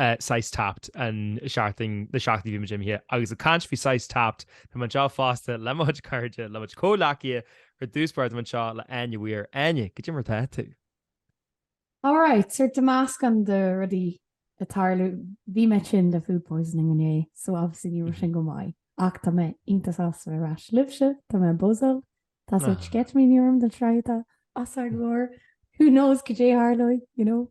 saghas tapped an seachtain, na seachtainí a bhí muid imithe agus ag caint faoi saghas tapped, tá mé anseo fosta le mo chuid cairde, le mo chuid comhghleacaithe, ar dtús báire tá mé anseo le Áine Weir. Áine, cad é mar atá tú? Alright, so tá meascán de rudaí ag tarlú, bhí mé tinn le food poisoning inné, so obviously ní raibh sin go maith, ach tá mé iontach sásta ar ais libhse, tá mé buzzáil, tá sórt sceitimíní orm don tsraith atá os ár gcomhair, who knows cad é a tharlóidh, you know?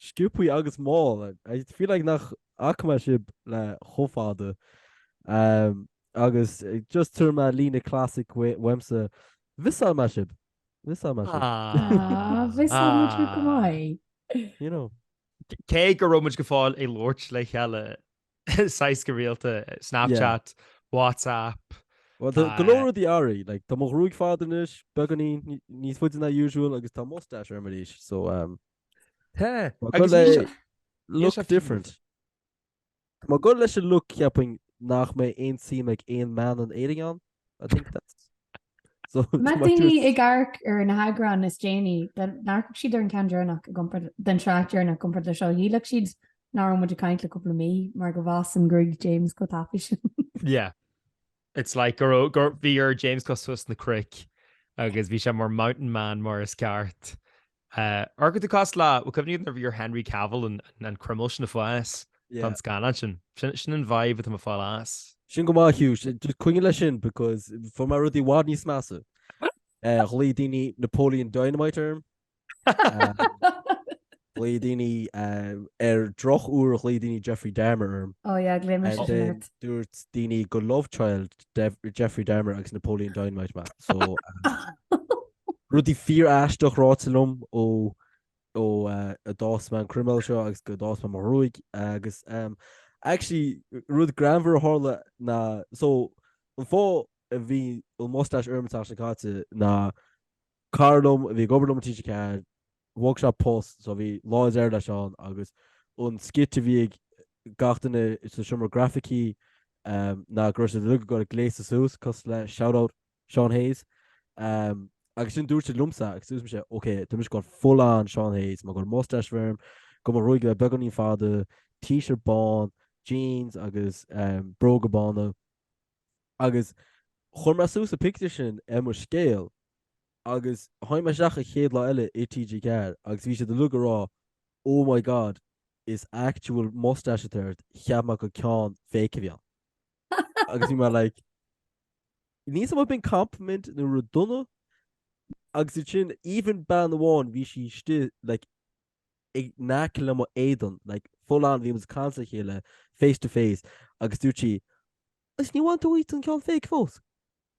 Sciobtha agus mall. I feel like nach fhaca mé sibh le chomh fada. Agus just tabharfaidh mé líne classic uaimse, mhiosáil mé sibh! Mhiosáil mé sibh! Aww, mhiosáil muid thú go maith! You know. Cé go raibh muid go fóill ag labhairt le chéile Saghas go rialta, Snapchat, WhatsApp. Bhuel, tá go leor rudaí athraithe, like, tá mo ghruaig fada anois, beagáinín, níos faide ná usual agus tá mustache orm arís, so um, Tá, agus le look different. Tá mé ag goil leis an look ceapaim nach mbeidh aon suim ag aon mbean in Éirinn ann. I think that's Má tá daoine ag amharc ar na heagráin is déanaí, dá n-amharcfadh siad ar an ceann deireanach den tsraith deireanach i gcomparáid le seo. Shílfeadh siad nach raibh muid ag caint le cúpla mí, mar go bhfásann gruaig James chomh tapaidh sin. Yeah. It's like go raibh, go, bhí ar James gabháil suas na cnoic agus bhí sé mar mountain man mar is ceart. Ar go tá tú cosúil le, bhuel, cuimhnigh nuair a bhí ar Henry Cavill an an croiméal sin a fhás don scannán sin. Sin sin an vibe atá mé ag fáil as. Sin go maith Hugh, sin just coinnigh leis sin because fuair mé rudaí i bhfad níos measa. Ghlaoigh daoine Napoleon Dynamite orm. Ghlaoigh daoine ar drochuair ghlaoigh daoine Jeffrey Dahmer orm. Ó yeah, ghlaoigh mé sin And then ort. dúirt daoine gur love child Dev- Jeffrey Dahmer agus Napoleon Dynamite mé. So Rudaí fíor-aisteach ráite liom ó ó a d'fhás mé an croiméal seo agus go d'fhás mé mo ghruaig agus em actually rud greannmhar a tharla ná so an fáth a bhí an mustache orm an tseachtain seo caite ná cara liom a bhí ag obair liom i TG4 bhog sé post so bhí lá is air leis ann agus an skit a bhí ag gach duine sa seomra grafaicí em ná go raibh siad uilig ag goil ag gléasadh suas cosúil le shout out Seán Hayes, ehm, agus sin dúirt siad liomsa agus dúirt mise, ok, tá mise ag goil full-on Seán Hayes, mé ag goil mustache a bheith orm, go mo ghruaig a bheith beagáinín fada, t-shirt bán, jeans agus ehm, bróga bána. Agus chuir mé suas an pictiúr sin ar mo scéal agus tháinig mé isteach an chéad lá eile i TG4 agus bhí siad uilig ag rá, oh my god, is actual mustache atá ort, cheap mé gur ceann fake a bhí ann. Agus bhí mé like, níl a fhios agam ab in compliment nó rud dona agus ansin even bean amháin bhí sí istigh like, in aice le mo éadan like, full on bhí muid os cionn a chéile face to face agus dúirt sí Is níor bhain tú díot an ceann fake fós?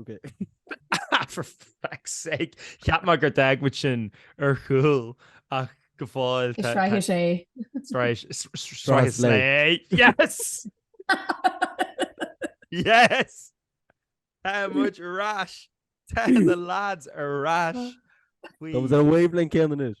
Ok. For feck's sake! Cheap mé gur d'fhág muid sin ar chúl ach go fóill tá. Sraith is é. Sraith is é! Yes! Yes! Tá muid ar ais! Tá na lads ar ais! Tá muid ar an wavelength céanna anois!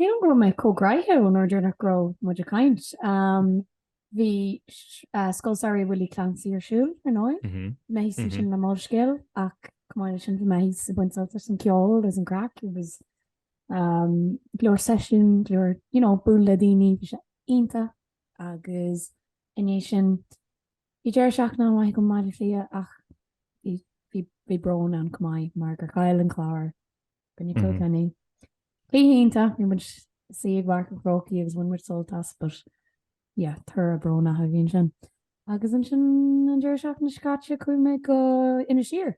Cé go raibh mé chomh gnaitheach ón uair dheireanach go raibh muid ag caint, bhí Scoil Samhraidh Willie Clancy ar siúl, ar ndóigh. Bhí mé thíos ansin le Molscéal ach chomh maith leis sin bhí mé thíos ag baint sult as an gceol agus an chraic, it was go leor seisiún, go leor you know bualadh le daoine, bhí sé iontach agus i ndiaidh sin bhí deireadh seachtaine an-mhaith agam i mBaile Átha Cliath ach bhí brón ann chomh maith mar gur chaill an Clár. In aghaidh Kilkenny cluiche iontach, bhí muid istigh i bPáirc an Chrócaigh agus bhain muid sult as but yeah, toradh brónach a bhí ansin. Agus ansin an deireadh seachtaine seo caite chuaigh mé go Inis Oírr.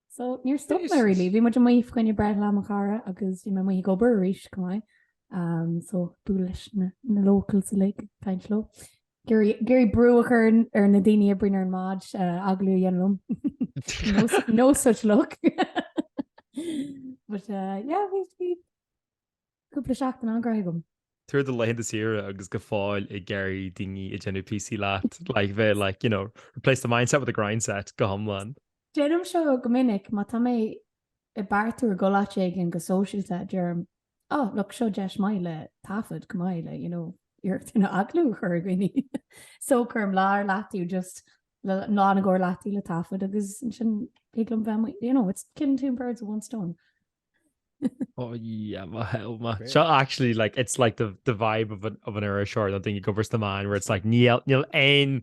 So níor stop mé really, bhí muid amuigh faoi choinne breithlá mo chara agus bhí mé amuigh ag obair arís chomh maith, so bualadh leis na locals uilig, caint leo. Ag iarraidh brú a chur ar na daoine a oibríonn ar an mbád agallamh a dhéanamh liom. No no such luck. But uh yeah bhí bhí cúpla seachtain an-ghnaitheach agam. Tá tú ar do laethanta saoire agus go fóill ag iarraidh daoine ag déanamh píosaí leat, like bheith like you know replace the mindset with the grindset go hiomlán. Déanaim seo go minic, má tá mé ag beartú ag dul áit éigin go sóisialta, deirim Ah, look, seo deis maith le taifead chomh maith le, you know, iarracht a dhéanamh agallamh a chur ar dhaoine. So, cuirim lá ar leataobh just, lá nó dhó ar leataobh le taifead agus ansin thig liom bheith amuigh, you know, it's killing two birds with one stone. Oh yeah, my hell, my. Great. So actually, like it's like the the vibe of an of an Irish or nothing. You go versus the man where it's like níl níl n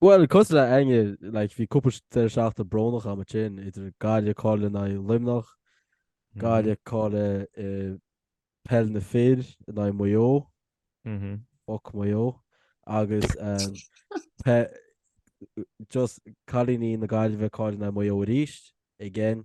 Bhuel, cosúil leat Áine, like, bhí cúpla deireadh seachtaine brónach agam ansin, idir Gaillimh, ag cailleadh in aghaidh Luimneach, mm-hmm. Gaillimh, ag cailleadh i eh, peil na fir in aghaidh Maigh Eo, mm-hmm. foc Maigh Eo, agus um, pe, just cailíní na Gaillimhe ag cailleadh in aghaidh Maigh Eo arís, again,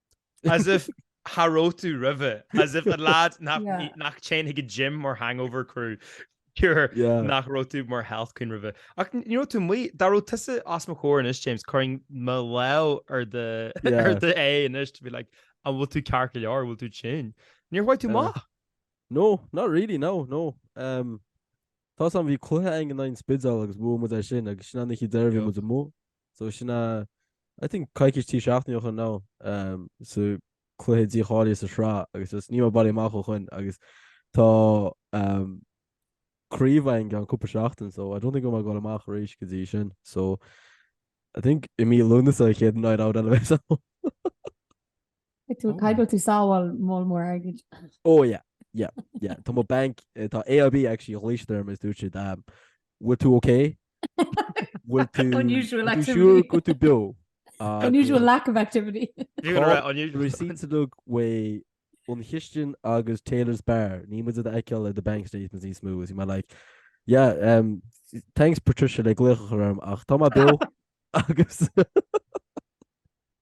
As if cha raibh tú roimhe, as if an leaid nach dtéann chuig gym mar hangover crew cure nach raibh tú mar health queen roimhe. Ach ní raibh tú amuigh, dá raibh tusa as mo chomhair anois James, cuirfinn mo lámh ar do aghaidh anois to be like an bhfuil tú ceart go leor, an bhfuil tú tinn? Níor chuaigh tú amach. No, not really, no, no. Tá a fhios agam bhí cluiche againn in aghaidh an Spidéil agus bhuaigh muid é sin agus sin an oíche deireadh bhí muid amuigh. So sin a, I think coicís trí seachtainí ó shin nó sa cluiche dícháilithe sa sraith agus just níl mé bailithe amach ó shoin agus tá craobh againn i gceann cúpla seachtain so I don't think go mbeidh mé ag goil amach arís go dtí sin so I think i mí Lúnasa chéad night out eile a bheas ann. Tú caithfidh go bhfuil tú ag sábháil moll mór airgid. Oh yeah yeah yeah Tá mo bank eh, tá AIB actually ghlaoigh siad orm is dúirt siad um, Bhfuil tú OK? Bhfuil tú Unusual bhfuil tú activity. siúr go bhfuil tú beo? Ah, Unusual lack of activity. You're gonna write unusual. Receipts le haghaidh An Chistin agus Taylor's bar. Níl muid á fheiceáil ar do bank statements níos mó is mé like yeah um, thanks Patricia le glaoch chugam ach tá mé beo agus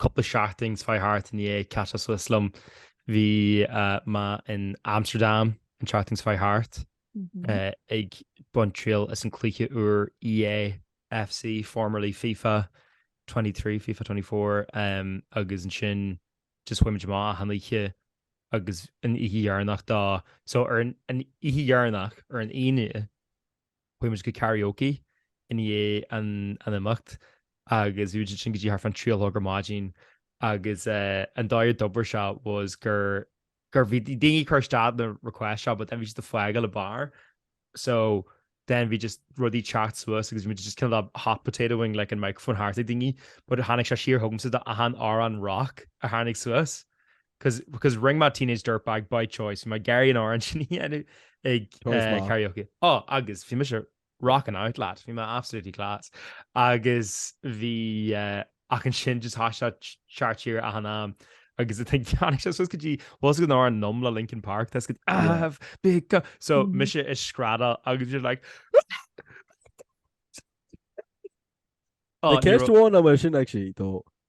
Cúpla seachtain seo chuaigh thart i ndiaidh Chat as West liom, bhí mé in Amsterdam an tseachtain seo chuaigh thart ag baint triail as an cluiche úr EA FC, formerly FIFA 23, FIFA 24, agus ansin just chuaigh muid amach achan oíche agus an oíche dheireanach dá, so ar an oíche dheireanach, ar an Aoine, chuaigh muid go karaoke i ndiaidh an imeacht agus bhí muid ansin go dtí thart fá an trí a chlog ar maidin agus an dóigh a d'oibir sé was gur gur bhí daoine ag cur isteach na requests seo but then bhí siad ag fágáil an bar so then bhí just rudaí ag teacht suas agus bhí muid just cineál hot potatoing like an microphone thart ag daoine but tháinig sé siar chugamsa do achan amhrán rock a tháinig suas 'Cause, because rinne mé Teenage Dirtbag by choice, mé ag iarraidh an amhrán sin a dhéanamh ag karaoke. Á, agus bhí mise rocking out lad, bhí mé absolutely class. Agus bhí, ach ansin just tháinig sé thart siar achan am agus I think tháinig sé suas go dtí, bhfuil a fhios agat an amhrán Numb le Linkin Park, tá a fhios agat I've become, so mise ag screadach agus bhí siad like, Ceist amháin an bhfuil sin ag sí dó,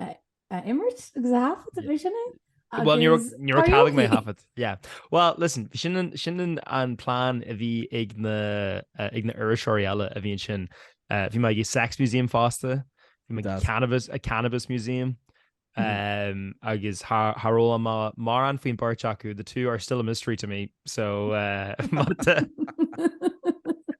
a imirt agus a thaifead a bhí sin é? Well ní raibh talamh mé thaifead. Yeah. Well listen, sin sin an plán a bhí ag na ag na iriseoirí eile a bhí ansin. Eh, bhí mé ag Sex Museum fásta, bhí mé Deas. Cannabis a Cannabis Museum um, agus char fhoghlaim mé mórán faoin beirt acu, the two are still a mystery to me. So má tá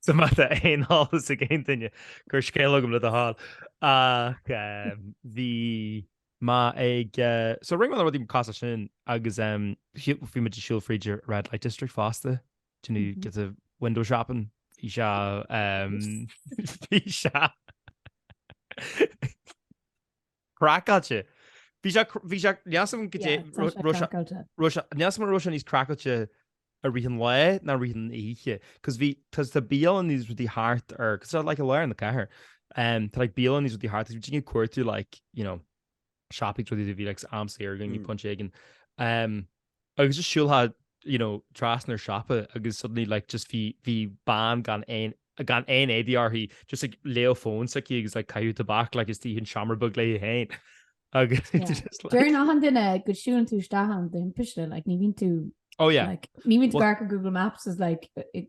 so má tá aon eolas ag aon duine, cuir scéal chugam le do thoil. Ach ehm, bhí mé ag eh, so rinne mé na rudaí mar, cosúil sin agus ehm, shí- bhí muid ag siúl fríd an Red Light District fosta, ag déanamh, Mhm. giota window shopping. Bhí sé ehm, bhí sé Craiceáilte. Bhí sé, bhí sé, sílim go dtí, raibh sé, sílim go raibh sé níos craiceáilte i rith an lae ná rith an oíche, cos bhí, cos tá bialanna is rudaí thart ar, cos tá like i lár na cathrach, tá like bialanna is rudaí thart, bhí daoine ag cuartú like, you know, siopaí, rud a dhéanamh, bhí like am saor againn, bhí pointe éigin. Agus just siúlfá you know trasna ó shiopa agus suddenly like just bhí bhí bean gan aon gan aon éadaí uirthi just ag ar an fón s'aici agus like caitheamh tobac like istigh i seomra beag léi féin agus Yeah. just like Deir achan duine go siúlann tú isteach ann de thimpiste, like ní bhíonn tú, oh yeah like, ní bhíonn tú Well- ag dul ar Google Maps is like, i- i-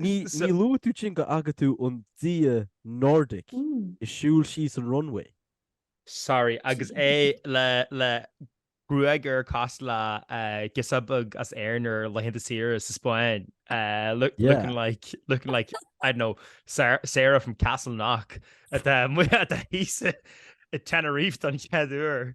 Ní luaigh tú sin go bhfaca tú an dia Nordic ag siúl síos an runway. sorry, agus é le, le gruaig air cosúil le girseach bheag as Éirinn ar laethanta saoire sa Spáinn looking like, looking like, I don't know, Sarah from Castleknock atá muid atá thíos i Tenerife don chéad uair.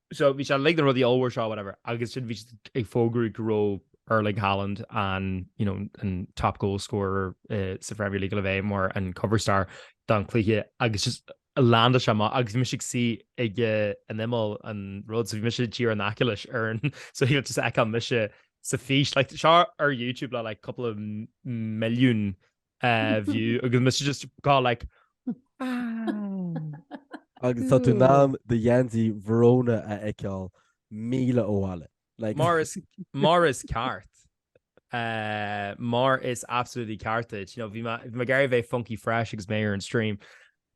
So bhí sé like an rudaí ollmhór seo whatever agus ansin bhí siad ag fógairt go raibh Erling Haaland an you know an top goal scorer sa Premier League le bheith mar an cover star don cluiche agus just landa sé amach agus bhí mise ag suí ag an imeall an rud so bhí mise díreach in aice leis ar an so tí tú just ag feiceáil mise san fhís like seo ar YouTube le like cúpla milliún view agus mise just gabháil like Agus tá tú in ann do gheansaí Verona a fheiceáil míle ó bhaile. Like, Mar is, mar is ceart. Uh, mar is absolutely ceart duit. You know, bhí me- bhí me gar a bheith funky fresh agus mé ar an stream.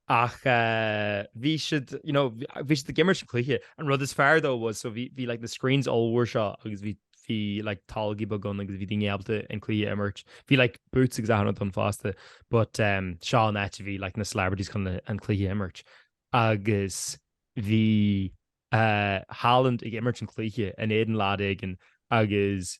ach bhí siad, you know, bhí siad ag imirt cluiche, an rud is fearr though was, so bhí, bhí like na screens ollmhór seo agus bhí, bhí like toilg bheaga ann agus bhí daoine ábalta an cluiche a imirt, bhí like booths agus achan rud ann fosta, but ehm seo an áit a bhí like na celebrities chun an cluiche a imirt agus bhí eh Haaland ag imirt an cluiche in éadan lad éigin agus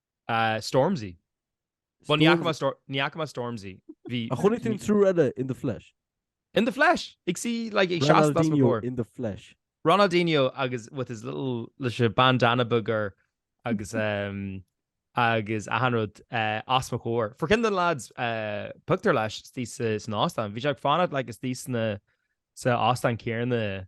A Stormzy. Bhuel, ní fhaca mé Storm- ní fhaca mé Stormzy. Bhí- Ach chonaic tú an triúr eile in the flesh? In the flesh! Ag suí like ag seasamh os mo Ronaldinho chomhair. in the flesh. Ronaldinho agus with his little, leis a bandana beag air agus ehm agus achan rud eh, os mo chomhair. Fuair ceann de na lads eh, pictiúr leis istigh sa- san óstán. Bhí sé ag fanacht like istigh sna sa óstán céanna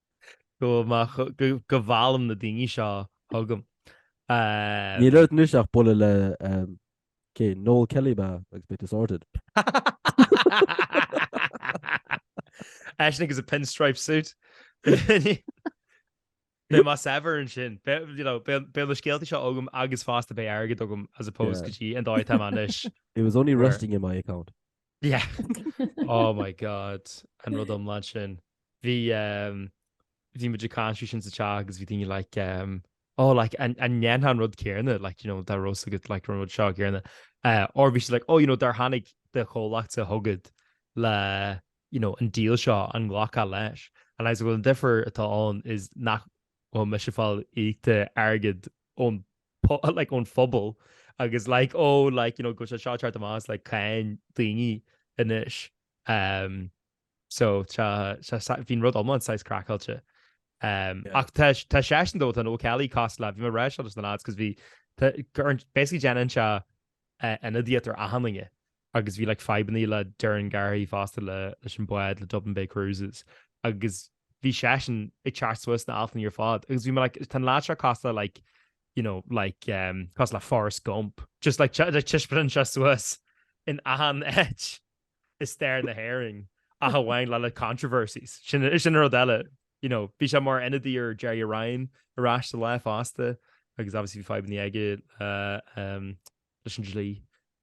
Go bhfuil mé cho, go, go meallaim na daoine seo chugam. Níl ort anois ach bualadh le, ehm, cé, Noel Kelly ba ea agus beidh tú sorted. Eisean agus a pinstripe suit. Beidh mé saibhir ansin. Be, you know, beidh, beidh na scéaltaí seo agam agus fosta beidh airgead agam as opposed Yeah. go dtí an dóigh atá mé anois. It was only Where? resting in my account. Yeah. Oh my God. An rud iomlán sin. Bhí um, bhí muid ag caint faoi sin sa teach agus bhí daoine like, um, oh, like, an an ndéanfá an rud céanna, like, you know, dá raibh a fhios agat, like, an rud seo céanna. Uh, or bhí siad, like, oh, you know, dá dtáinig do chomhlacht chugat le, you know, an deal seo, an nglacfá leis. And I was like, well, an difear atá ann is nach bhfuil mise ag fáil íoctha airgead ón like ón phobal agus like oh like you know go bhfuil sé seo ag teacht amach as like cáin daoine anois ehm so tá tá bhí an rud iomlán saghas craiceáilte ehm ach tá tá sé ar ndóigh tá Noel Kelly cos like bhí mé ag rá seo leis na lads cos bhí tá basically déanann sé ionadaíocht ar achan duine agus bhí like fadhbanna le Doireann Garrihy fosta le leis an bád le Dublin Bay Cruises agus bhí seisean ag teacht suas sna haltanna ar fad agus bhí mé like tá an lad seo cosúil like you know like ehm cosúil le Forrest Gump just like te- like taispeánann sé suas in achan áit i stair na hÉireann ach amháin le like controversies sin a- sin an rud eile you know bhí sé mar ionadaí ar Gerry Ryan ar ais sa lá fosta agus obviously bhí fadhbanna aige le ehm leis an dlí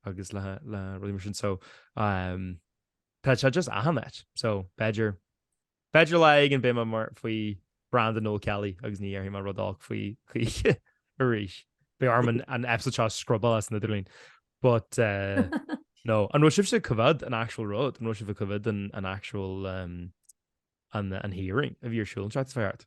agus le rudaí mar sin so tá sé just achan áit so b'fhéidir b'fhéidir lá éigin beidh mé mar faoi bhranda Noel Kelly agus ní dhéarfaidh mé rud olc faoi choíche arís. Beidh orm an episode seo a scrubáil as an idirlíon but nó an raibh sibhse ag coimhéad an actual rud an raibh sibh ag coimhéad an actual an hearing a bhí ar siúl san Oireachtas feart.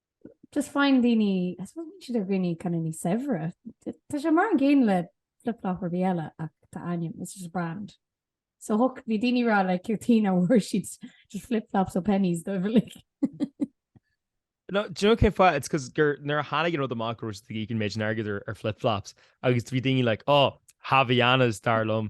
just faigheann daoine, I suppose bíonn siad ar dhaoine kind of níos saibhre. Tá sé mar an gcéanna le flip-flop ar bith eile ach tá ainm, it's just a brand. So hoc, bhí daoine ag rá like cad chuige nach bhfuair siad just flip-flops ó Penneys dóibh uilig. No, do you know cén fáth? It's because gur nuair a tháinig an rud amach go raibh siad ag íoc an méid sin airgid ar flip-flops agus bhí daoine like, oh, Havaianas dar liom,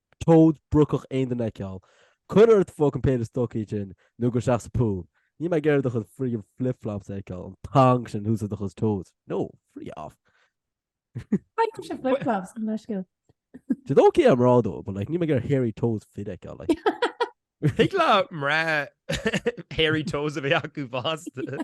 Toes brocacha aon duine a fheiceáil. Cuir ort fucking péire stocaí sin nó gabh isteach sa pool. Níl mé ag iarraidh do chuid friggin flip-flops a fheiceáil, an thong sin thuas i do chuid toes. No! Free off! Caithfidh liom sin flip-flops go leisce. It's ok ar mhná though but like níl mé ag iarraidh hairy toes fir a fheiceáil like. Thig le mná hairy toes a bheith acu fosta.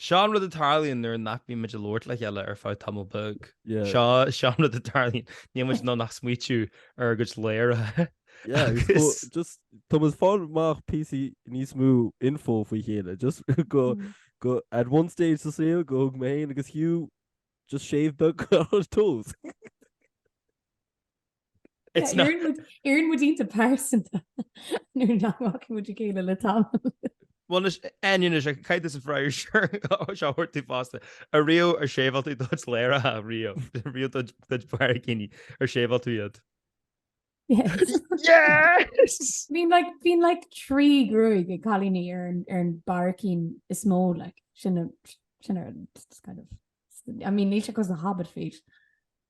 Seo an rud a tharlaíonn nuair nach mbímid ag labhairt le chéile ar feadh tamall beag. Seo seo an rud a tharlaíonn níl muid nó nach smaoitiú ar do ladhracha. just tá muid ag fáil amach píosa níos mó info faoi chéile just go mm. go at one stage sa saol go thug mé féin agus Hugh just shave do toes. Éiríonn muid iontach pearsanta nuair nach bhfaca muid a chéile le tamall. Bhuel anois, Enya, is ea, caithfidh tusa freagra air seo a thabhairt tú fosta. Ariamh, ar shaveáil tú do ladhracha riamh? Ariamh do bharraicíní, ar shaveáil tú iad? Yes! Yes! Bhíonn like, bhíonn like trí gruaig ag cailíní ar an, ar an mbarraicín is mó like, sin a, sin ar, it's kind of, I mean, níl sé cosúil le hobbit feet.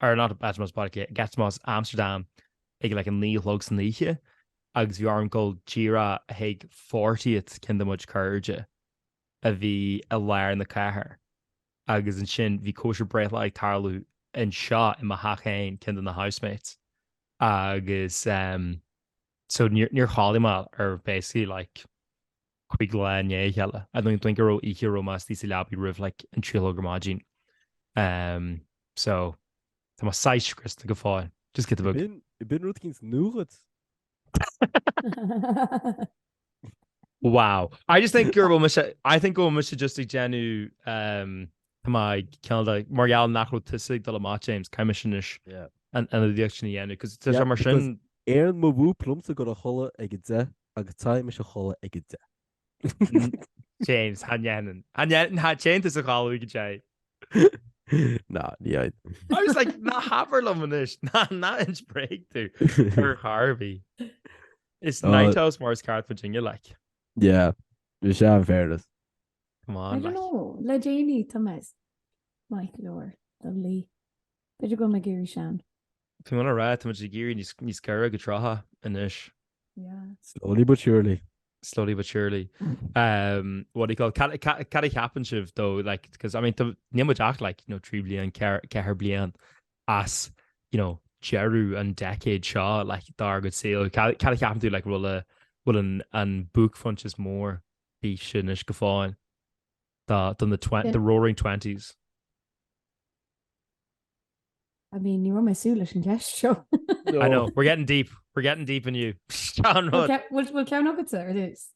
ar an eatromos páirce, Gattermoos, Amsterdam ag a like a naoi a chlog san oíche agus bhí orm dul díreach chuig fortieth cionn de mo chuid cairde a bhí i lár na cathrach agus ansin bhí cóisir breithlae ag tarlú anseo i mo theach féin, cionn de na housemates agus ehm so níor chodail mé ar basically like. 5 lá i ndiaidh a chéile, I don't think go raibh oíche a raibh mé istigh sa leabaidh roimh like an 3 a chlog ar maidin. Umm so tá mé saghas scriosta go fóill. Just get the book. Bíonn bíonn rud éigin nua agat. Wow. I just think go raibh mise, I think go raibh mise just ag déanamh umm tá mé kinda like, mar gheall nach raibh tusa ag dul amach James, caithfidh mise anois Yeah. an ionadaíocht sin a dhéanamh 'cause tá sé mar sin. Éireann mo mhúb liomsa dul a chodladh ag a deich Agus téimse a chodladh ag a deich. James, cha ndéanann. Cha ndéanann, téann tusa a chodladh ag a deich. Ná, ní fhad. I was like, ná habair liom anois, ná, ná hinis bréag dúinn ar chor ar bith. Is Tá- night owls mar is ceart muidinne, like. Yeah, is ea in fairness. Come I on, don't like. know, le déanaí, táimse maith go leor, Dudley. B'fhéidir go bhfuil mé ag éirí sean. Tá mé le rá, tá muid ag éirí níos níos gaire go trátha anois. Slowly but surely. slowly but surely. Um, what do you call cat cat cat happen shiv though like because I mean the name jack like you know tree blian care care blian as you know Jeru and decade Shaw like dar good sale cat cat happen to like rolla will an an book funches more bí sin is go fáin. Tá, do na twen, the roaring twenties. I mean, ní raibh mé ag súil leis an gceist seo. I know, we're getting deep, we're getting deep inniu. Ceann rud. Bhfuil, bhfuil ceann agatsa ar dtús?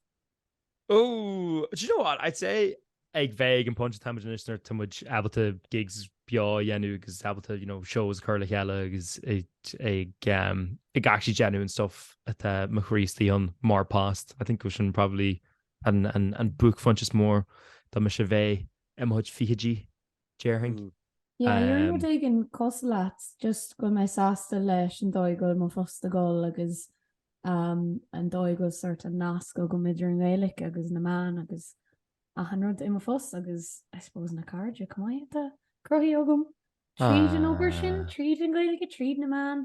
Ooh, do you know what, I'd say, a bheith ag an phointe táimid anois nuair tá muid ábalta gigs beo a dhéanamh agus ábalta, you know, shows a chur le chéile agus ag, ag, um, ag actually déanamh an stuff atá mo chroí istigh ann, mar phost. I think go bhfuil sin probably An an buaicphoint is mó domsa bheith i mo chuid fichidí, déarfainn. Yeah, yeah rud éigin cosúil leat, just go mbeidh mé sásta leis an dóigh go bhfuil mo phost ag dul agus an dóigh go bhfuil sórt an nasc agam idir an Ghaeilic agus na meáin agus achan rud i mo phost agus I suppose na cairde chomh maith atá cruthaithe agam tríd an obair sin, tríd an Ghaeilge, tríd na meáin.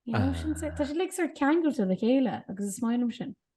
You know, sin tá sé uilig sórt ceangailte le chéile agus is maith liom sin.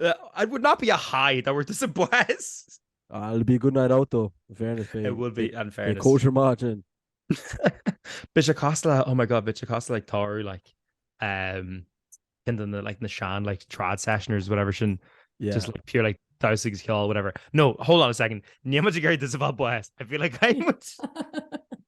It would not be a high that we're disavow buíochas. Ah, it'll be a good night out though, in fairness, bhí, It would be, in bhí fairness. cóisir maith ansin. Bhí sé cosúil le, oh my god, bhí sé cosúil le tórramh, like, um, cinn de na, like, na sean, like, trad sessions, whatever sin, Yeah. just like pure, like, damhsa is ceol, whatever. No, hold on a second, níl muid ag iarraidh disavow buíochas. I feel like I'm...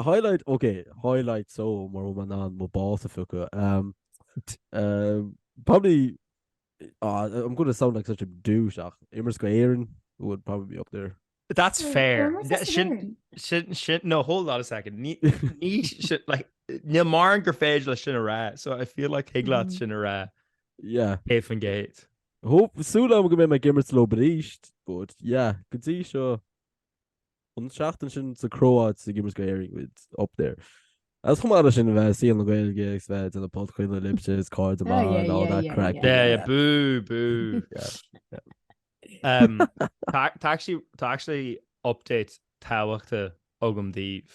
Highlight, ok, highlight so mura bhfuil mé in ann mo bás a phiocadh. Umm probably ah I'm going to sound like such a douche ach imirt go hÉirinn would probably be up there. That's fair. Sin no hold on a second sin like níl mórán gur féidir leo sin a rá so I feel like thig leat sin a rá yeah céad faoin gcéad. Hope súil agam go mbeidh mé ag imirt leo arís but yeah go dtí seo An tseachtain sin sa Chróáit sa ag imirt go hÉirinn would be up there. Is chomh maith leis sin a bheith ag saol na Gaeilge agus bheith ag déanamh podchraoladh libhse is cairde Oh, maith yeah, and all yeah, that yeah, crack. yeah. Yeah, boo, boo. Um, tá, tá actually, tá actually update tábhachtach agam daoibh.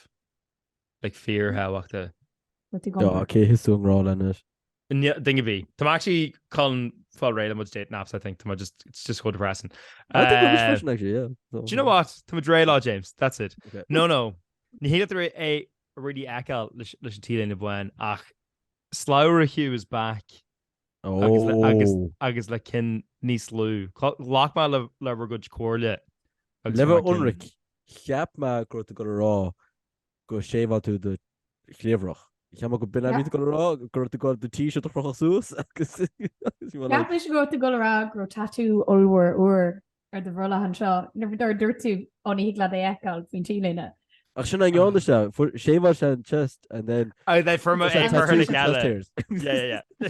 like fíorthábhachtach. Ok, is tú i ngrá linn is. Níl, ding a bhí. Tá mé actually chun fáil réidh le mo chuid dating apps, I think. Tá mé just, it's just so depressing. I think we're just Eh, pushing actually, yeah. So- Do you know what? Tá muid réidh leo, James. That's it. Okay. No, no. Ní thig leat é really fheiceáil leis leis an T-léine bhán ach Slabhra Hugh is back agus le- agus- Oh. agus le cinn níos lú. Cla- Ghlac mé le le bhur gcuid comhairle. agus Le bhur cinn- Ionraic, cheap mé go raibh tú ag rá gur shaveáil tú do chliabhrach. Cheap mé gurb in a bhí tú ag gabháil a rá, go raibh tú ag gabháil do T-shirt a chrochadh suas agus Cheap mé go raibh tú ag gabháil a rá go raibh tatú ollmhór ar ar do bhrollach anseo, nuair a dúirt dúirt tú ó ní thig leat é fheiceáil faoin T-léine. Ach sin an gceann shaveáil sé an chest and then I they from a for her gala. Yeah, yeah, yeah.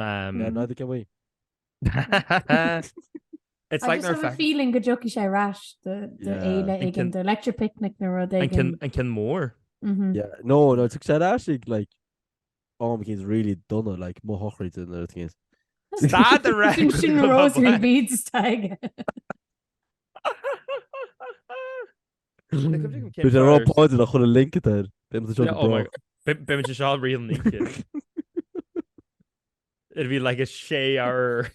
Ná neither can we. It's like I just have a feeling go dtiocfaidh sé ar ais do fhéile éigin, do Electric Picnic nó rud éigin. An ceann mór? Yeah, no, no, tiocfaidh sé ar ais ag like am éicint really dona, like mo shochraid nó rud éigin. Stad a rá! Sin sin rosary beads atá aige. Bhí sé rá páidin a chuile link air. Bé se seá rion ní. It bhí le a sé ar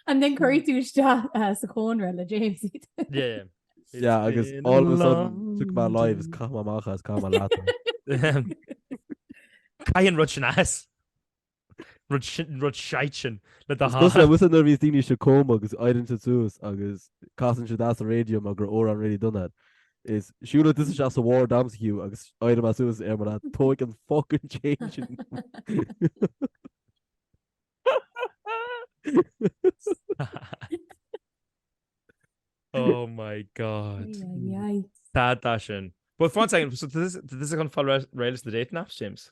and then cuirfidh tú isteach uh, sa chónra le James. Yeah. Yeah, agus all of a sudden took my lives cam amach as cam a leat. Caith an rud sin as. rud shite sin le do thathar. Is dócha nuair a bhíos daoine sa cóma agus éireann siad suas agus casann siad as an raidió mar gur ór an raidió dona is siúlfaidh tusa isteach sa ward agamsa Hugh agus éireoidh mé suas ar mar atá tóg an fucking chain sin Oh my god. Stad de sin. But one second, so does this does this gonna follow Rails the dating apps, James?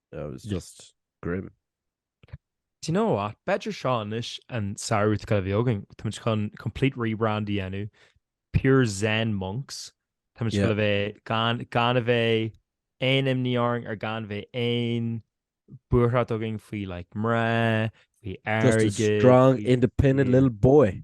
It was just grim. Do you know what? B'fhéidir seo anois an samhradh atá chun a bheith againn. Tá muid chun complete rebrand a dhéanamh. Pure Zen Monks. Tá muid chun a bheith gan a bheith aon imní orainn or gan a bheith aon buairt againn faoi like mná, faoi airgead. Just a strong independent little boy.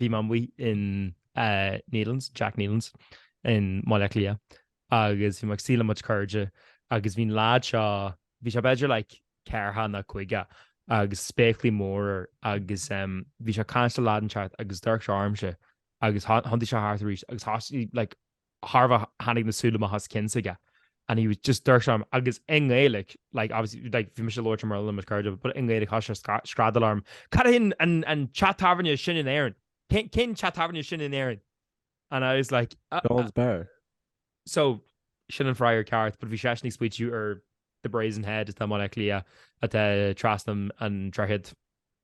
Bhí mé amuigh in Nealon's, Jack Nealon's, i mBaile Átha Cliath agus bhí mé ag suí le mo chuid cairde agus bhí an lad seo, bhí sé b'fhéidir like ceathracha nó caoga agus spéaclaí móra air agus bhí sé ag caint le lad inteacht agus d'amharc sé ormsa agus thiontaigh sé thart arís agus thosaigh like chóir a bheith tháinig na súile amach as an chionn s'aige and he was just d'amharc orm agus i nGaeilge, like obviously like bhí mise ag labhairt i mBéarla le mo chuid cairde but i nGaeilge thosaigh sé ag screadaíl orm, Cad é an teach tábhairne is sine in Éirinn? Cén teach tábhairne is sine in Éirinn? And I was like, uh, Seán's Bar. So sin an freagra ceart but bhí seisean ag smaoitiú ar The Brazen Head atá i mBaile Átha Cliath atá trasna an droichid.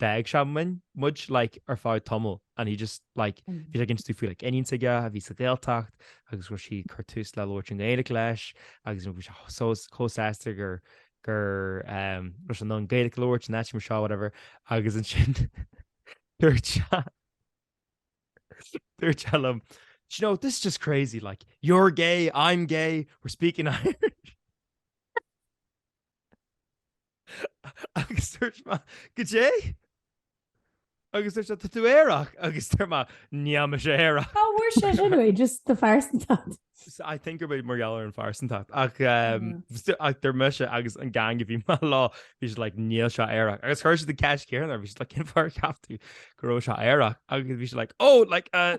bheadh ag seanbhuíon muid like ar feadh tamaill and he just like bhí sé ag inse domh faoi like iníon aige a bhí sa Ghaeltacht agus go raibh sí ag cur tús le labhairt an Ghaeilge leis agus bhí sé so chomh sásta gur gur ehm raibh sé in ann Gaeilge a labhairt in áit mar seo whatever agus ansin dúirt sé dúirt sé liom "Do you know this is just crazy like you're gay I'm gay we're speaking Irish" Agus dúirt mé, Goidé? Agus dúirt sé, Tá tú aerach! Agus dúirt mé, Níl mise aerach! Cá bhfuair sé sin uaidh? Just do phearsantacht? I think gurb é mar gheall ar an phearsantacht. Ach ach dúirt mise agus an gang a bhí mé leo, bhí siad like, Níl sé aerach. Agus chuir siad an cheist chéanna air, bhí siad like, Cén fáth ar cheap tú go raibh sé aerach? Agus bhí sé like, Oh, like, uh,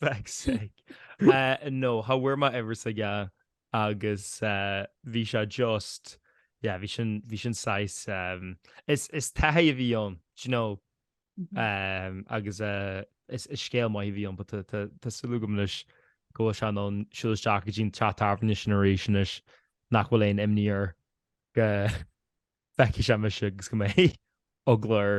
Fuck's sake. No, cha bhfuair mé uimhir s'aige a agus bhí sé just, yeah, bhí sin, bhí sin saghas, is, is taithí a bhí ann, do you know, agus is, is scéal maith a bhí ann but tá, tá, tá súil agam anois go bhfuil sé in ann siúl isteach go dtí an teach tábhairne sin arís anois nach bhfuil aon imní air go bhfeicfidh sé mise agus go mbeidh eagla air.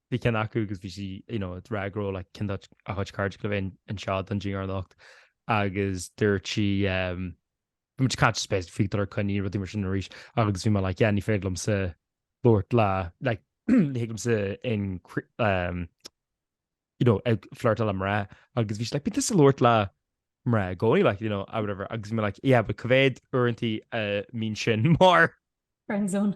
bhí ceann acu agus bhí sí you know ag rá go raibh like ceann de do chuid cairde le bheith anseo don dinnéar anocht agus dúirt sí ehm bhí muid ag caint suppose faoi dul ar coinní rudaí mar sin arís agus bhí mé like yeah ní féidir liomsa labhairt le like ní thig liomsa in cri- ehm you know ag flirtadh le mná agus bhí sí like but tá tusa ag labhairt le mná i gcónaí like you know ah whatever agus bhí mé like yeah but cá mhéad uaireantaí a mbíonn sin mar Friendzone.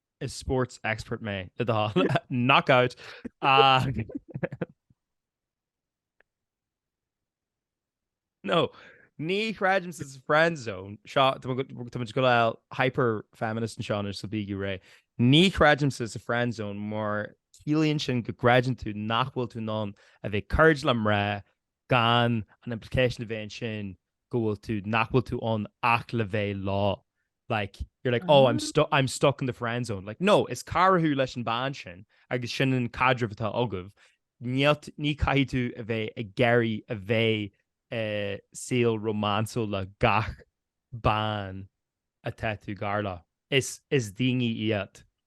is sports expert mé le do thoil. Knock out! Ach No, ní chreidim sa friend zone seo, tá muid go- tá muid ag gabháil hyper feminist anseo anois so bígí réidh. Ní chreidimse sa friend zone mar ciallaíonn sin go gcreideann tú nach bhfuil tú in ann a bheith cairde le mná gan an implication a bheith ansin go bhfuil tú, nach bhfuil tú ann ach le bheith leo. Like, you're like, oh, I'm stuck, I'm stuck in the friend zone. Like, no, is cara thú leis an bhean sin agus sin an caidreamh atá agaibh. Níl, ní caithfidh tú a bheith ag iarraidh a bheith eh, saol rómánsúil le gach bean atá tú gar leo. Is, is daoine iad.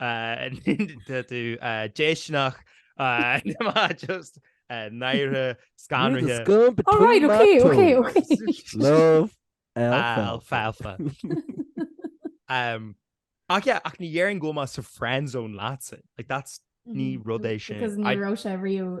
Tá tú déistineach, just náire, scanraithe. Love alfalfa. Ach yeah, ach ní dhéarfainn go bhfuil mé sa friendzone leatsa, like that's, ní rud é sin. Because ní raibh sé riamh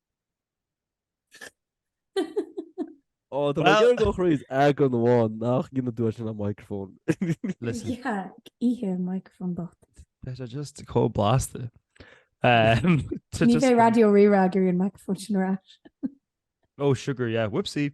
Ó, tá mé ag iarraidh dul thríd eagrán amháin nach gcionn a dúirt sin an micreafón. Listen. Is ea, ag ithe an micreafón bocht. Beidh sé just chomh blasta. Ní bheidh Raidió Rí-Rá ag iarraidh an micreafón sin ar ais. Oh, sugar, yeah, whoopsie!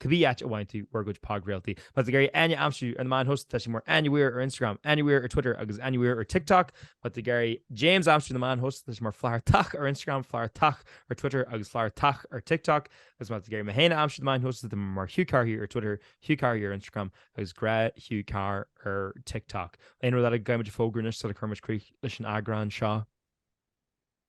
cibé áit a bhfaigheann sibh bhur gcuid podchraoltaí. Má tá tú ag iarraidh Áine a aimsiú ar na meáin shóisialta, tá sí mar AnnieWeir ar Instagram, AnnieWeir ar Twitter agus AnnieWeir ar TikTok. Má tá tú ag iarraidh James a aimsiú ar na meáin shóisialta, tá sé mar Flathartach ar Instagram, Flathartach ar Twitter agus Flathartach ar TikTok. Agus má tá tú ag iarraidh mé féin a aimsiú ar na meáin shóisialta, tá mé mar Hugh Carthy ar Twitter, Hugh Carthy ar Instagram agus Grá Hugh Carr ar TikTok. Aon rud eile a gcaithfidh muid a fógrú anois sula gcuirimid críoch leis an eagrán seo?